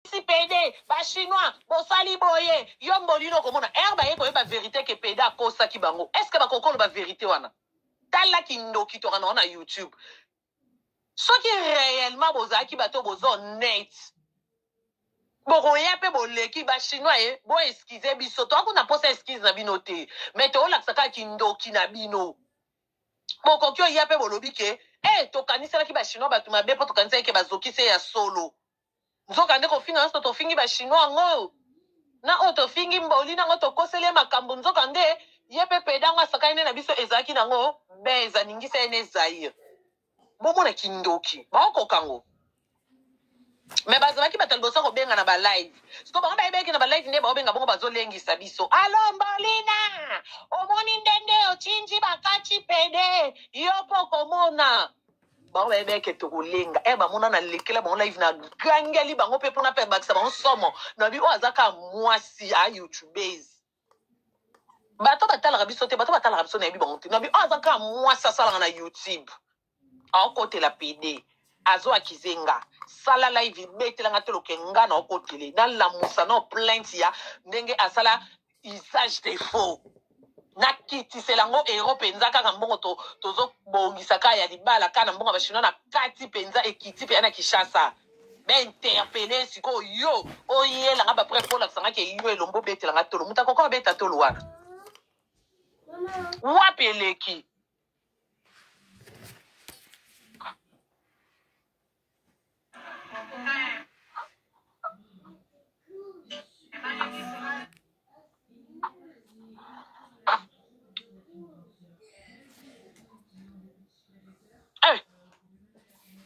si pede ba chinois bosali boye yo mbonino okomona ere baye koyeba verite ke pede akosaki bango est ce que bakokolo ba verite wana tala kindoki tokana wana youtube soki réellement bozalaki bato bozo net bokoya mpe boleki bachinois ye bo eskize biso toa kuna mposa eskize na bino te me toolakisa kaka kindoki na bino bokoki oya mpe bolobi ke e eh, tokaniselaki bachinois bato mabe mpo tokaniselaki ke bazokise ya solo Nzoka nde kofinga nionso tofingi ba chinois yango na oyo tofingi mboli nango tokoseli ye makambu nzoka nde ye pe peda yango asakani nde na biso ezalaki nango beza ningisa ye ne zaire bomona kindoki baokoka ngo me bazalaki bato ya liboso kobenga na balive siko bango bayebeki na balive nde baobenga bongo bazolengisa biso alo mbolina omoni ndenge ochinji bakati pede yo mpo okomona bango bayebi eke tokolenga e eh, bamona na lekela bango live na gangeli bango mpe mpona mpe bakisa bango somo nabi oyo aza kaka mwasi a ah, youtubese bato batalaka biso te bato batalaka biso nayebi bango te nabi oyo aza kaka mwasi asalaka na youtube aokotela pede azo akize nga sala live betelanga te loke nga na okotele nalamusa na plainte ya ndenge asala usage des faux nakitisela yango euro mpenza kaka mbongo tozobongisa to kaka ya libala kaka na mbongo ya bachinois na kati mpenza ekiti mpenza na kinshasa bainterpele sikoyo yo oyelanga bapre mpo olakisangaki yo elombo obetelanga tolo moto akoka obeta tolo wana wapi eleki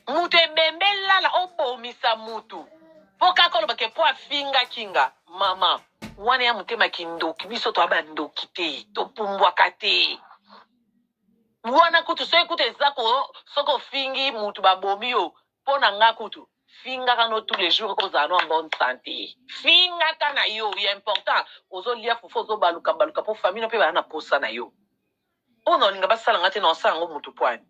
moto ebembe lala obomisa moto mpo kaka oloba ke mpo afingaki nga mama wana ya motema kindoki biso toya bandoki te topumbwaka te wana kutu soki kutu eza ko soki ofingi mutu babomi yo mpo na nga kutu fingaka no tous les jours ozala no en bonne santé fingaka na yo ya important ozolia fufu ozobaluka baluka mpo famille no mpe baya na posa na yo mpo na olinga basala nga te na osala yango mutu pwani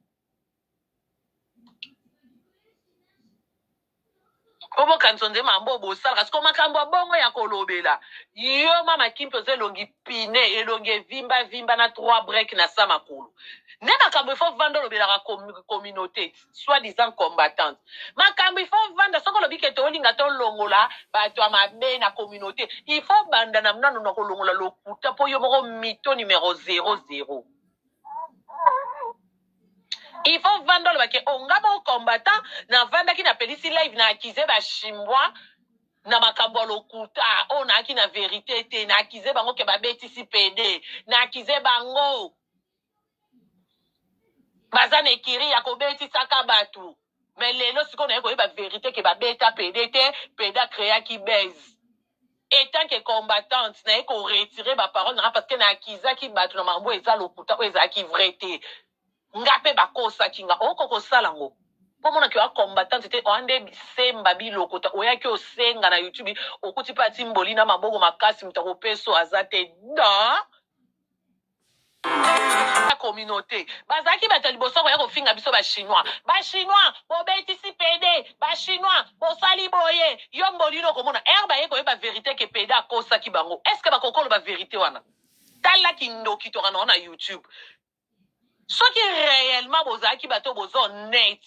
po bokanisa nde mambo oyo bosalaka siko makambo ya bongo ya kolobela yo mama kim mpenza elongi pine elongi evimba vimba na trois break na sa makolo nde makambo ifo vanda olobelaka communauté soit disant combattante makambo ifo vanda soki olobi kete olinga tolongola bato ya mabe na communauté ifo banda na mnano na kolongola lokuta mpo yo moko mito numero 00 Yvon Vanda oloba ke o nga moko combattant navandaki napelisi live na accuse ba chinois na makambo ya lokuta oyo nayaki na verite te na accuse bango ke babetisi pede na accuse bango baza na ekiri ya kobetisaka bato Mais lelo sikoyo naye koyeba verite ke babeta pede te, pede a creaki buzz. Etant que combattante, naye ko retirer ba paroles nanga parce que na accusaki batu na makambo oyo eza lokuta, oyo ezalaki vrai te. Nga pe bakosaki nga, oko kosala ngo. Po omona ke oza combattante te, oza nde semba bilokota, oyaki osenga na youtube, okuti pe atimboli na maboko makasi, moto akopesa yo aza te. Dans communauté bazalaki bato ya liboso koya kofinga biso bachinois bachinois bobetisi pede bachinois bosali boye yo mbolino okomona ere baye koyeba verité ke pede akosaki bango est ce que bakokolo baverité wana tala kindoki tokana wana youtube soki réellement bozalaki bato bozo net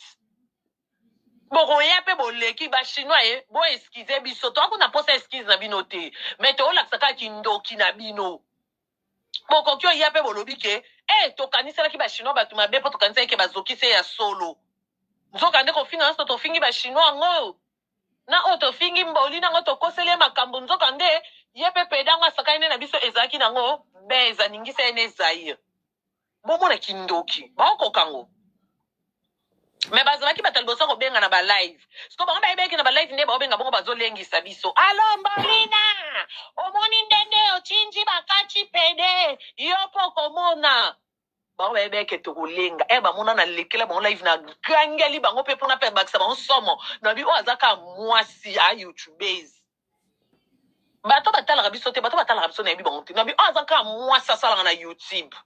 bokoya mpe boleki bachinois ye eh, boeskize biso toakuna mposa eskize na bino te me toolakisa kaka kindoki na bino Bokoki oya mpe bolobi ke eh, tokaniselaki ba chinois bato mabe mpo tokanisaki ke bazoki se ya solo. Nzoka nde kofinga nyonso tofingi ba chinois yango na oyo tofingi mboli nango tokoseli ye makambo nzoka nde ye mpe peda yango asakani nde na biso ezalaki nango beza ningisa ye ne zaire bomona kindoki baokoka ngo me bazalaki bato ya liboso ya kobenga na balive siko bango bayebeki na balive nde baobenga bongo bazolengisa biso alo mbolina omoni ndenge ochinji bakati pede yo mpo okomona bango bayebeke tokolenga e bamona na lekela bango live na gangeli bango mpe mpona mpe bakisa bango somo nabi oyo aza ka mwasi a youtubese bato batalaka biso te bato batalaka biso nayebi bango te nabi oyo aza kaka mwasi asalaka na youtube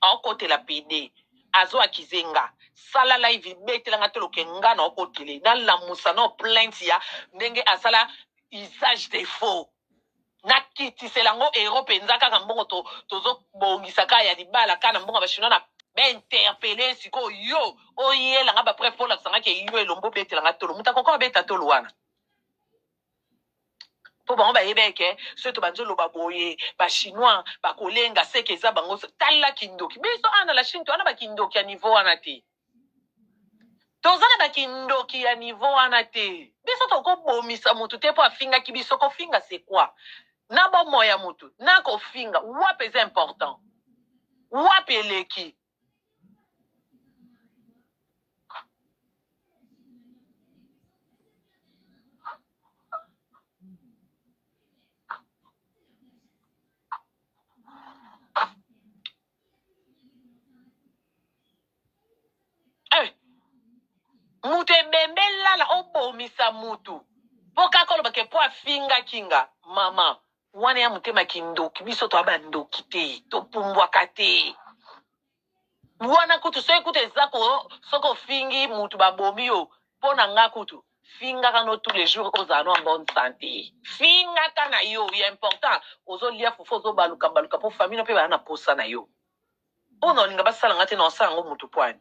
aokotela pede azo akize nga sala live ibetela nga toloke nga na okotele nalamusa no plainte ya ndenge asala usage de faux nakitisela yango ero mpenza kaka mbongo tozobongisa to kaka ya libala kaka na mbongo ya bachinois na bainterpele sikoyo yo oyelanga bapref mpo olakisanga ke yo elombo obetelanga tolo moto akoka obeta tolo wana mpo bango bayebi eke soki to banzo loba boye bachinois bakolenga seke eza bango tala kindoki biso awa na la chine towana bakindoki ya niveau wana te toza na bakindoki ya niveau wana te biso tokobomisa motu te mpo afingaki biso kofinga se quoi na bomoi ya motu na kofinga wapi eza important wapi eleki moto ebembe lala obomisa moto mpo kaka olobake mpo afingaki nga mama Wana ya motema kindoki biso toa ba ndoki te to pumbwaka te. Wana kutu soki kutu eza ko soki ofingi mutu babomi yo mpo na nga kutu fingaka no tous les jours ozala no en bonne santé fingaka na yo ya important ozolia fufu ozobaluka baluka mpo famille no mpe baya na posa na yo mpo na olinga basala nga te na osala yango motu pwani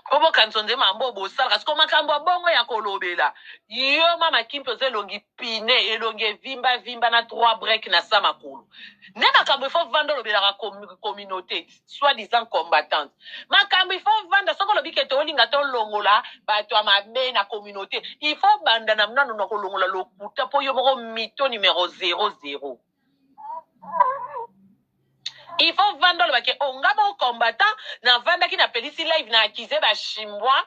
po bokanisa nde mambo bosalaka siko makambo ya bongo ya kolobela yo mama kimpe oza elongi pine elongi evimba vimba na trois break na sa makolo nde makambo ifo vanda olobelaka communauté soit disant combattante makambo ifo vanda soki olobi ke tolinga tolongola bato ya mabe na communauté ifo banda na nano na kolongola lokuta po yo moko mito numero 00 il faut vanda oloba ke o nga moko combattant navandaki napelisi live na akize bachinois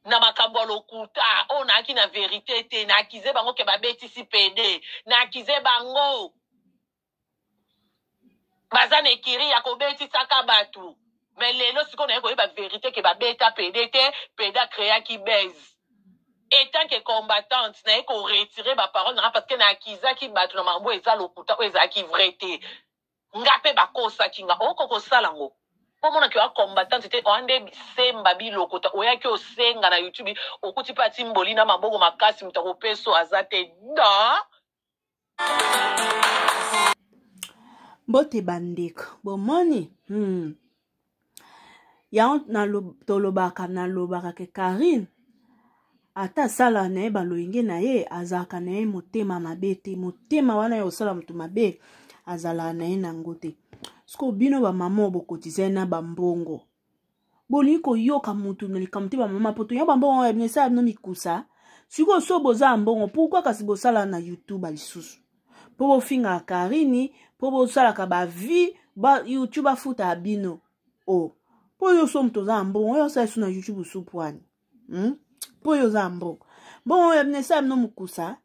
na makambo ya lokuta oyo nayaki na verite te na akize bango ke babetisi pede na akize bango baza na ekiri ya kobetisaka bato Mais lelo sikoyo naye koyeba verite ke babeta pede te, pede a creaki base. Etant que combattante, naye ko retirer ba parole nanga parce que na accusaki bato na makambo eza lokuta oyo ezalaki vrai te. Nga pe bakosaki nga, oko kosala ngo. Po mona ke oa combattante te, oa nde semba bilokota. Oyaki osenga na YouTube, okuti pe atimboli na maboko makasi moto akopeso aza te. Non! mbote bandeko bomoni hmm. yango tolobaka nalobaka ke karine ata asala na ye balolenge na ye azalaka na ye motema mabe te motema wana ya kosala moto mabe azalaka na ye na yango te sikoyo bino bamama oyo bokotize na bambongo bolingi koyoka motu na likambo te bamama poto yo bambongo ya bino esala bino mikusa sikoyo so boza ya mbongo pourkui kasi bosala na youtube lisusu mpo bofingaka karini mpo bosalaka bavie ba youtube afutaka bino o oh. mpo yo so moto oza ya mbongo oyo osala lisu na youtube osupwani hmm? mpo yo oza ya mbongo mbongo ya bino esala bino mokusa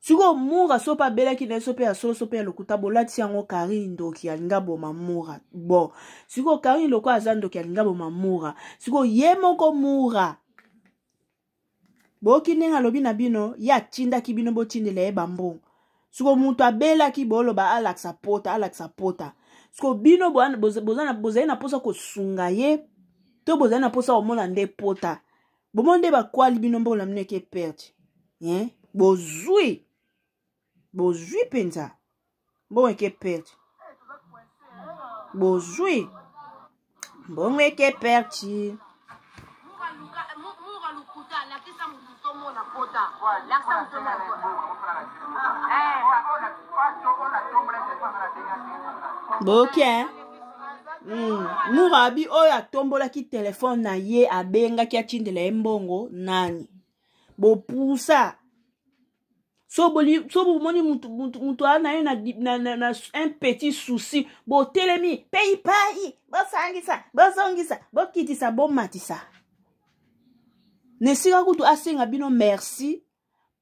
sikoyo mura so mpe abelaki na ye so mpe ya solo so mpe ya lokuta bolati yango karine ndoki alinga boma mura bon sikoyo karine loko aza ndoki alinga boma mura sikoyo ye moko mura boyoki ndenge alobi na bino ye atindaki bino botindela ye bambongo sikoyo moto abelaki boloba alakisa pota alakisa pota sikoyo bino bozali na mposa kosunga ye to bozali na mposa komona nde pota bomoni nde bakwali bino mbongo na bino eke perte eh? bozwi bozwi mpenza mbongo eke perte bozwi mbongo eke perte boke okay, eh? Mm. murabi oyo atombolaki telefone na ye abengaki atindela ye mbongo nani bopusa so bomoni moto aa na ye na, na, na, na un petit souci botelemi peipai bosangisa bozongisa bokitisa bomatisa na esika kutu asenga bino merci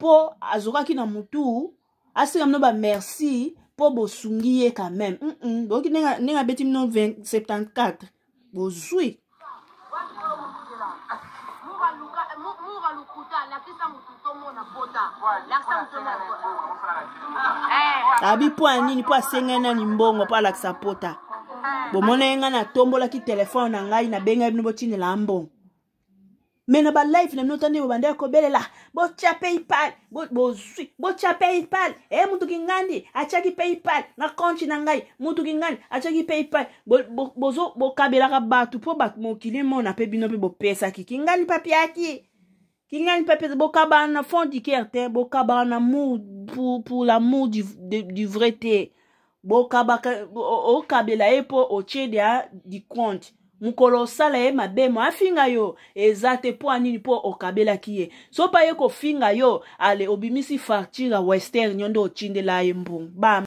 mpo azokaki na mutu asenga bino bamerci mpo bosungi ye quand même mm -mm. boyoki ndenge abeti bino 74 bozwi abi eh. mpo ya nini mpo asengai nani mbongo mpo alakisa pota eh. bomona ye ngai natombolaki telefone na ngai nabengaki bino botindela mbongo me na balive na bino tande bobandaki kobelela botya paypal bozwi botya paypal e eh, motuki ngandi atyaki paypal na konti na ngai motuki ngandi atyaki paypal bokabelaka bato mpo bato mokili emona mpe bino mpe bopesaki kingani papiaki kingani papiaki bokabaka na fond du ker te bokabaka na mour pour, pour l'amour du, du vrai te bokabaka okabela ye mpo otie dia dikonte mokolo osala ye mabe mo afinga yo eza te mpo anini mpo okabelaki ye sopa ye kofinga yo ale obimisi facture ya western yo nde otindela ye mbongo